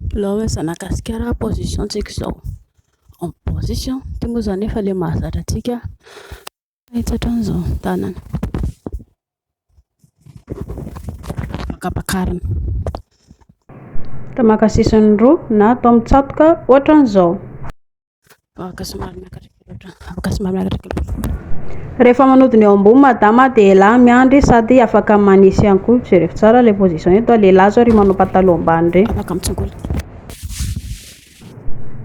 Bilao eo Zanagasikara position tsika izao en position ity moa izany efa ilay mahazatra antsika mahitsy hatrany izao ny tanana ampakarina atao maka sisiny roa na atao mitsatoka ohatran'izao Vavaka somary miakatreaka loatra. Vavaka somary miakatreaka loatra. Rehefa manody ny eo ambony madama dia elah miandry sady afaka manisy ihany koa. Jereo tsara ilay position eto. Lehilahy zao ry manao pataloha ambany ireny. Afaka mitsongola.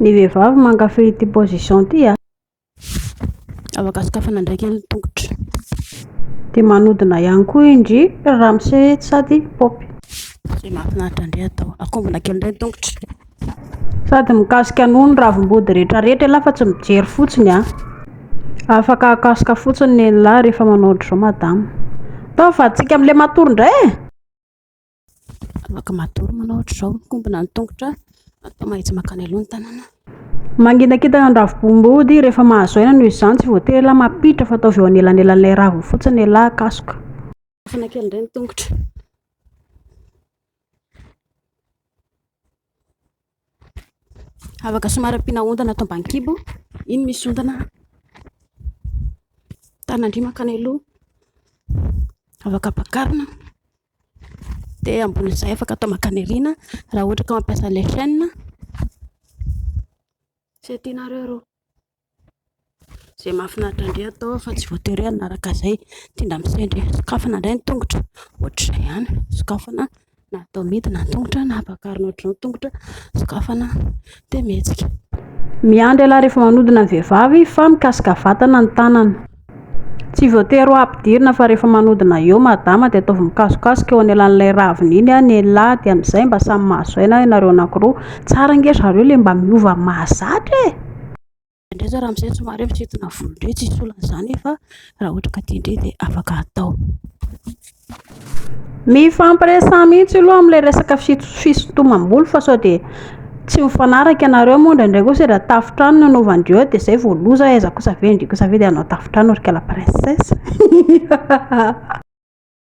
Ny vehivavy mankafy ity position ity ah. Afaka sokafana ndraiky ny tongotra. Dia manodina ihany koa indry ramose sady pop. Izay mahafinaritra indray atao. Akombona kely indray ny tongotra. Sady mikasika an'o ny ravim-body rehetra rehetra ialahy fa tsy mijery fotsiny an! Afaka hakasoka fotsiny ny enilahy rehefa manao ohatr'izao madama. Ataovy fa hatsiaka amin'ilay matory indray e! Afaka matory manao ohatr'izao, mikombona ny tongotra, atao mahitsy makany aloha ny tanana. Manginakintana ny ravim-body rehefa mahazo aina noho izany tsy voatery ialahy mampiditra fa ataovy eo anelanelan'ilay raviny fotsiny ialahy hakasoka. Afana kely indray ny tongotra. Afaka somary ampiana ondana atao ambany kibo. Iny misy ondana. Tanan-dry mankany aloha. Afaka ampakarina. Dia ambonin'izay afaka atao mankany aoriana raha ohatra ka mampiasa ilay chaîne. Izay tianareo aloha. Izay mahafinaritra indray atao fa tsy voatery hoe hanaraka izay tena misendry e, sokafana indray ny tongotra ohatr'izay ihany, sokafana na atao midina ny tongotra na ampakarina ohatr'izao ny tongotra, sokafana dia mihetsika. Miandry ialahy rehefa manodina ny vehivavy fa mikasika vatana ny tanana. Tsy voatery ho ampidirina fa rehefa manodina eo madama dia ataovy mikasokasoka eo anelan'ilay ravina iny ny lehilahy dia amin'izay mba samy mahazo aina ianareo anankiroa. Tsara ange zareo ilay mba miova mahazatra e! Indrindra indray zany raha misy somary misintona volo indray tsy hisy olana izany fa raha ohatra ka tian-dry dia afaka atao. Mifampiresaha mihitsy aloha amin'ilay resaka fisintomam-bolo fa sao dia tsy mifanaraka ianareo moa indraindray kosa dia tafontrano no hanaovandry eo dia izay vao loza, aiza kosa ve ndry kosa ve dia hanao tafontrano ry kala princesse.